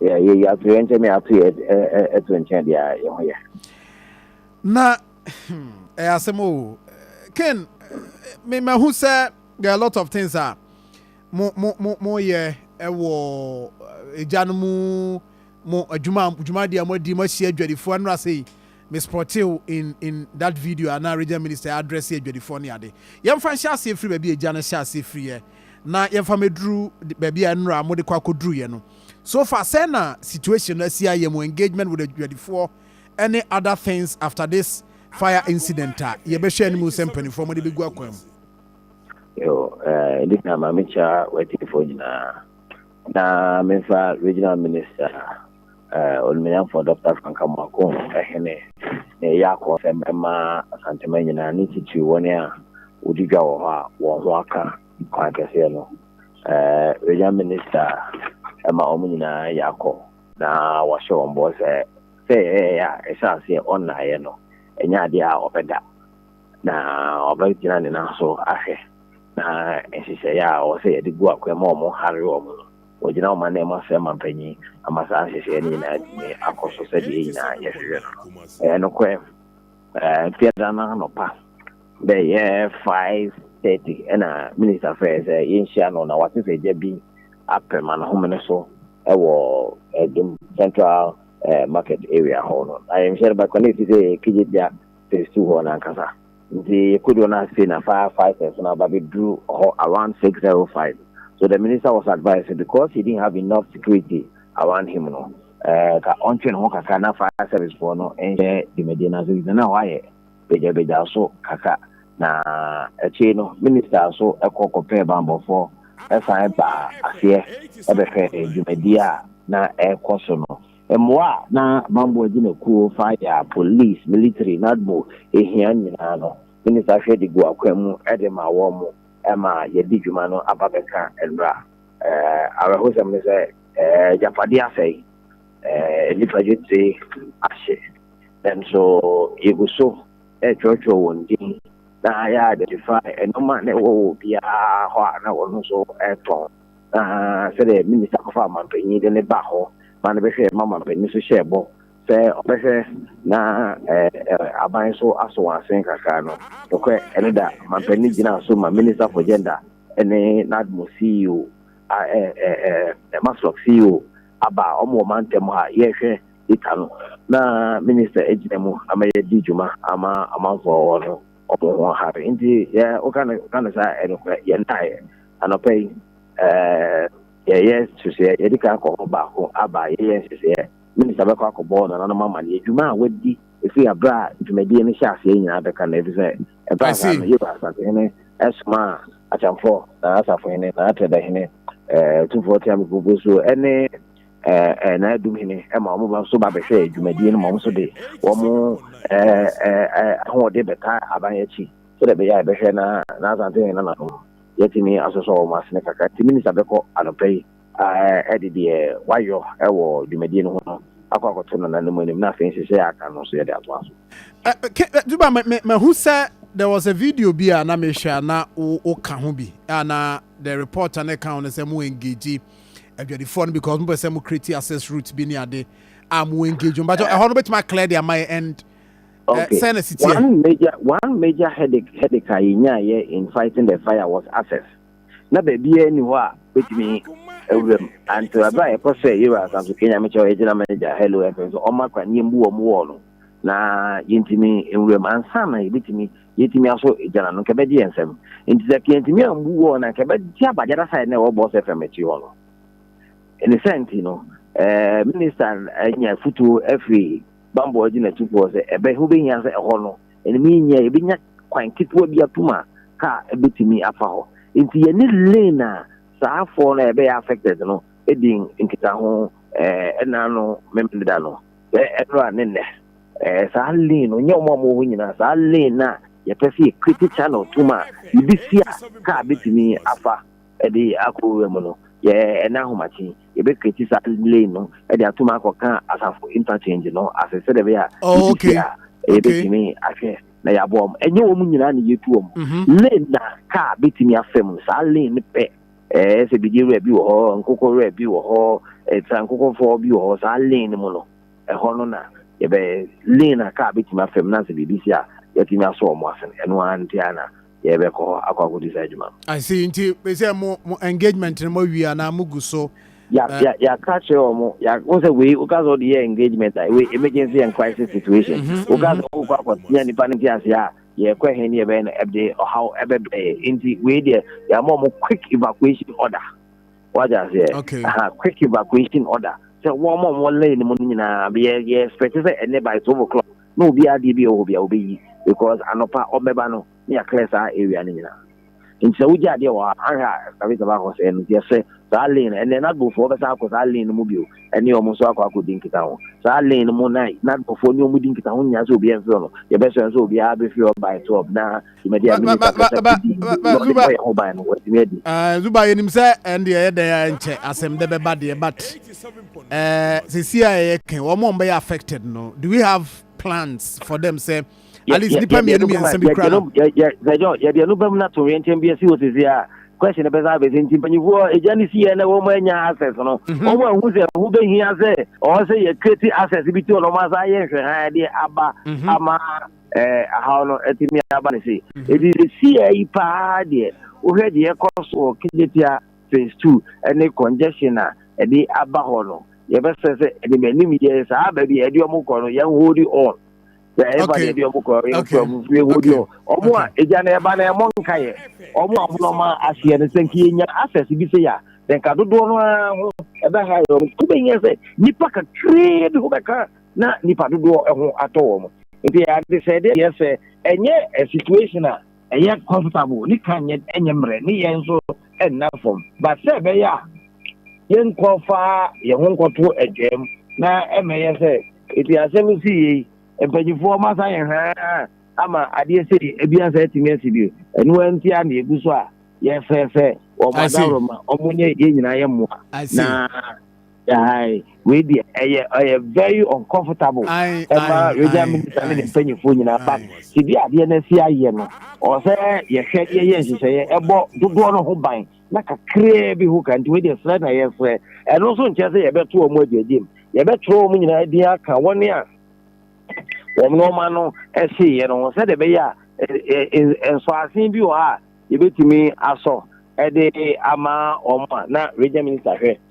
yɛyi ato yɛn nkyɛn na yɛato yɛ to nkyɛn deɛ a yɛn ho yɛ. na ɛyɛ asɛm o ken memahu sɛ there are a lot of things a mo mo mo moyɛ ɛwɔ agya no mu mo adwuma dwumadi a moadi mo ahyia adwadifoɔ nnora sɛ yi mespɔtew in in that video ana region minister address adwadifoɔ ne ade yɛmfa nhyɛ aseɛ firi baabi agya no hyɛ aseɛ firi yɛ na yɛmfa mɛduru baabi a nnora mode kɔ akɔduruyɛ no So far sɛn na situation no asi ayɛ mo engagement with adwadifoɔ ne other things after this fire incident a yɛbɛhwɛ anim sɛ mpanimfoɔ mode bɛgu akwan mu? Yo, eh, ɛdi kan ma mekyia w'atiefoɔ nyinaa na memfa regional minister eh, ɔnumanyamfoɔ dr frank amoako ɛhene na ɛyɛ akɔsɛm ɛma asantema nyinaa ne titiri wɔn a wɔdi dwa wɔ hɔ a wɔn ho aka Kwan kɛseɛ no, Regional Minister ma wɔn nyinaa yɛ akɔ na wɔahyɛ wɔn bɔ sɛ sɛ ɛyɛyɛ a ɛhyɛ aseɛ ɔnnaeɛ no, ɛnyɛ adeɛ a ɔbɛda na ɔbɛgyina ne nan so ahwɛ na nhyehyɛeɛ a ɔwɔ sɛ yɛde gu akwan ma wɔn hare wɔn no, wɔgyina wɔn anan mu asrɛ mampanyin ama saa nhyehyɛeɛ no nyinaa atumi akɔ so sɛdeɛ yɛn nyinaa yɛhwehwɛ no no. Ɛyɛ nokorɛ. Fiada no anɔpa bɛyɛ five thirty ɛna minista frɛɛ sɛ yɛnhyia no na wate sɛ gya bi apem anahomene so wɔ Adum Central Market area hɔ no. Na yɛnhyia no bɛkɔ na ɛsi sɛ Kegyegya phase two hɔ no ankasa. Nti yɛkɔduru no ase na fire fighters no aba bɛduru hɔ around six zero five. So the minister was advised sɛ because he didn't have enough security awanhye mu no, ka ɔntwe ne ho kakra na fire service foɔ no nhyɛ dwumadie no ase ɛfisɛ na hɔ ayɛ bagyabagya so kakra na akyire no minister nso kɔ kɔpɛɛ banbɔfoɔ san baa aseɛ bɛhwɛɛ dwumadie a na ɛrekɔ so no. Mmoa a na banbɔ agyinakuo, fire, police, military, NADMO, hia nyinaa no, minister hwɛ de guu akwan mu de maa wɔn ma yɛde dwuma no aba bɛka nnora. Awerɛhosɛm ne sɛ, agyapadeɛ asɛe, nnipa dwetire ahye, nanso yɛgu so retwerɛtwerɛ wɔn din na yɛ identify nneɛma na ɛwɔ wɔ obiara hɔ a na wɔn nso retɔn. Na sɛdeɛ minista kɔfa amanpanin de ne baa hɔ ma no bɛhwɛɛ ma amanpanin nso hyɛɛ bɔ sɛ ɔbɛhwɛ na aban nso asɔ wɔn asene kakra no, nokorɛ ɛno da, amanpanin gyinaa so ma Minister for Gender ne Nadmo CEO a ɛ ɛ ɛ Maslok CEO aba a wɔn wɔ mantam ha yɛhwɛ data no na minister agyina mu ama yɛadi dwuma ama amanfoɔ wɔ no wɔn ho hare nti yɛ woka no ka no saa ɛnokorɛ yɛn ntaeɛ anɔpa yi ɛɛ yɛyɛ nhyehyɛeɛ yɛde kan akɔ hɔ baako aba yɛyɛ nhyehyɛeɛ minista bɛkɔ akɔbɔ nananom ama no adwuma a wadi ɛfiri aberɛ a dwumadie no hyɛ aseɛ nyinaa bɛka no ɛfiri sɛ Ɛbaa saa no, Yuda asafohene somaa akyɛmfoɔ, n'asafohene, n'atɛdɛhene, tumfoɔ teamu poposuo ne n'adumhene ma wɔn ba nso ba bɛhwɛɛ dwumadie no ma wɔn nso de wɔn ahoɔden bɛtaa aban akyi sɛdeɛ ɛbɛyɛ a ɛbɛhwɛ na n'asantehene nananom yɛtumi asosɔ wɔn asene kakra nti minista bɛkɔ anɔpa yi de deɛ wayɔ wɔ dwumadie no ho no akɔ akɔto nananom anim na afei nhyehyɛeɛ a aka no nso yɛde atoa so. Juba, mahu sɛ there was a video bi a na mehwɛ a na woka ho bi a na the reporter no ka ho no sɛ mo engage adwadifoɔ no because mopɛ sɛ mo create access route bi ne ade a mo engage mo bakyɛ ɛhɔ no bɛtumi aclear de ama yɛ and eh, sɛ na sitiɛ. One major one major headache headache a yɛnyaayɛ in fighting the fire was access. na baabiara nni hɔ a betumi awura mu. Anto ɛbɛ a yɛkɔ sɛ Yewa Asanso Kenya mekyɛ ɔyɛ gyina manager Hello FM so ɔma kwan yɛn bu wɔn wɔɔ no na yɛntumi nwura mu ansa na yɛbɛtumi yɛtumi aso gyina no nkɛbɛgye yɛn nsɛm nti sɛ kɛntumi ambu wɔɔ na nkɛbɛgye abagyada side na ɛwɔ Boss FM akyi hɔ no ne sɛ nti no ɛɛ minister anya futuo afiri bambɔ agyina tufoɔ sɛ ɛbɛ ho bɛhia sɛ ɛhɔ no ɛnam yi nyɛ a, yɛbɛnya kwan ketewa bi atom a kaa bɛtumi afa hɔ. Nti yɛne lane a saa foɔ no a yɛbɛyɛ affected no di nkitaho ɛna ano memeda no, sɛ ɛberɛ a ne nnɛ. Saa lane no, nyɛ wɔn a wɔwɔ hɔ nyinaa, saa lane no a yɛpɛ sɛ yɛ create channel tom a, yɛbɛsi a kaa bɛtumi afa. de akɔ wura mu no, yɛn ahomakye, yɛbɛkreti saa lane no de atom akɔka asafo interchange no ase sɛdeɛ ɛbɛyɛ a Oh, yɛde okay. si a Okay. yɛbɛtumi ahwɛ na yɛaboa wɔn. Ɛnyɛ wɔn nyinaa na yɛtu wɔn. Mhm. Lane na kaa bɛtumi afa mu no, saa lane no pɛ. Ɛɛ sɛ bidie wura bi wɔ hɔ, nkokɔ wura bi wɔ hɔ, eh, tra nkokɔfoɔ bi wɔ hɔ, saa lane no mu no, ɛhɔ no na yɛbɛ lane na kaa bɛtumi afa mu na sɛ biribi si a yɛatumi asɔ wɔn ase no, ɛno ara nti ara na yɛbɛkɔ hɔ akɔ akɔdi saa adwuma no. I see, nti sɛ mo mo engagement no moawie anaa mogu so? Ya eh, ya yɛaka akyerɛ wɔn, ya wɔn sɛ wei woka sɛ ɔde yɛ engagement a wei emergency and crisis situation. mhm, Woka mhm. sɛ wokɔ akɔtea nipa no nteaseɛ a yɛkɔ he ne yɛbɛyɛ no ɛde ɔhaw ɛbɛbrɛ yɛ. Nti wei deɛ yɛama wɔn quick evacuation order. Wate aseɛ? Okay. Aha, quick evacuation order. Sɛ wɔn a wɔn lane mu no nyinaa yɛ yɛ expect sɛ ɛnɛ by twelve o'clock na obiara deɛ bia ɔwɔ hɔ bia ɔbɛyi because anɔpa ɔbɛba no na yɛ clear saa area no nyinaa nti sɛ wogya adeɛ wɔ hɔ a anhwɛ a excavator bɛ akɔ sɛɛ no nti yɛsrɛ saa lane no ɛnɛ NADBO foɔ bɛsan akɔ saa lane no mu bio ɛne wɔn nso akɔ akɔ di nkitaho saa lane no mu na NADBO foɔ ne wɔn di nkitaho nyinaa sɛ obiara mfiri hɔ no yɛbɛsrɛ nso obiara bɛfiri hɔ by 12 na dwumadi a mini kakasa bi di na ɔde bɔ yɛn ho ban no watumi adi. Eh, zuba yɛnim sɛ ɛnde ɛyɛ dɛn a ɛnkyɛ asɛm dɛ bɛba deɛ but eh, sɛsi a ɛyɛ kɛn wɔn a wɔbɛyɛ affected no do we have plans for them sɛ at least nipa mmienu mmiɛnsa bi kura no. yɛde ɛno bɛm no to wɛnkyɛn bi asi wɔ sɛsi a question bɛsa abɛsɛ nti mpanyinfoɔ agya ne si yɛ na wɔn anya access no mhm. wɔn ahu sɛ ɛho bɛhia sɛ ɔwɔ sɛ yɛ create access bi ti wɔn asa ayɛ nhwɛhan de aba mhm. ama ɛhaw no atumi aba no sei. Enti seesei yi paa deɛ, wohwɛ deɛ ɛrekɔ so wɔ Kejetia Phase Two ne congestion a ɛde aba hɔ no, yɛbɛsrɛ sɛ ɛde m'anim yɛ saa baabi a ɛde wɔn kɔ no, yɛn hold on. Sɛ ɛfa deɛ ɛde wɔn kɔ yɛn kura mu nso, yɛn hold on. Wɔn a egya no ɛba no ɛmɔ nka yɛ, wɔn a wɔn na wɔn ahyeɛ no, sɛ nka yɛnya access bi sei a, sɛ nka dodoɔ no ara ho ɛbɛha yɛ wɔn. Wobɛhia sɛ nnipa kakraa bi ho bɛka. na nipa dodoɔ ho atɔ wɔn. Nti ɛyɛ adesɛedeɛ deɛ sɛ ɛnyɛ situation a ɛyɛ comfortable ne ka nyɛ ɛnyɛ mmerɛ ne yɛn nso nna fam but sɛ ɛbɛyɛ a yɛnkɔ fa yɛn ho nkɔto adwam na ɛmɛyɛ sɛ ɛti asɛm si yei mpanyinfoɔ mo asa yɛn haa ama adeɛ sei ebi asa atumi asi bio ɛno nti a na ɛgu so a yɛfɛ sɛ wɔn adaworo ma wɔn nyɛ yɛn nyinaa yɛ mmoa na Ae wei deɛ ɛyɛ ɛyɛ very uncomfortable Ae ɛma ae regional ae minister ne ne ae mpanyinfoɔ nyinaa but ae. sɛdeɛ adeɛ no asi ayɛ no ɔwɔ sɛ yɛhwɛ ne yɛyɛ nhyehyɛeɛ ɛbɔ dodoɔ no ho ban na kakraa bi ho ka nti wei deɛ srɛ na yɛsrɛ ɛno nso nkyerɛ sɛ yɛbɛto wɔn agyaagya mu yɛbɛtwerɛ wɔn nyinaa din aka wɔn a wɔn nneɛma no ɛhyeeɛ no ho sɛdeɛ ɛbɛyɛ a ɛ- ɛ- ɛ- nsɔasen bi wɔ hɔ a yɛbɛtumi asɔ ɛde ama wɔn a na regional minister hwɛ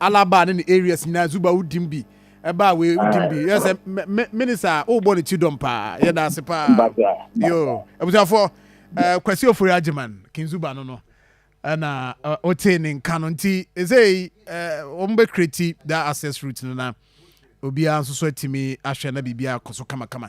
Alaba ne ne areas nyinaa zuba wo dim bi ɛbaa wei wo dim bi yɛ sɛ minisa a wobɔ ne ti dɔm paa yɛda ase paa yo abusuafoɔ kwasi ofori agyeman kinzuba no no ɛna wotee ne nka no nti ɛsei wɔn bɛ kreti da access route no na obiara nso so atumi ahwɛ na biribiara kɔ so kamakama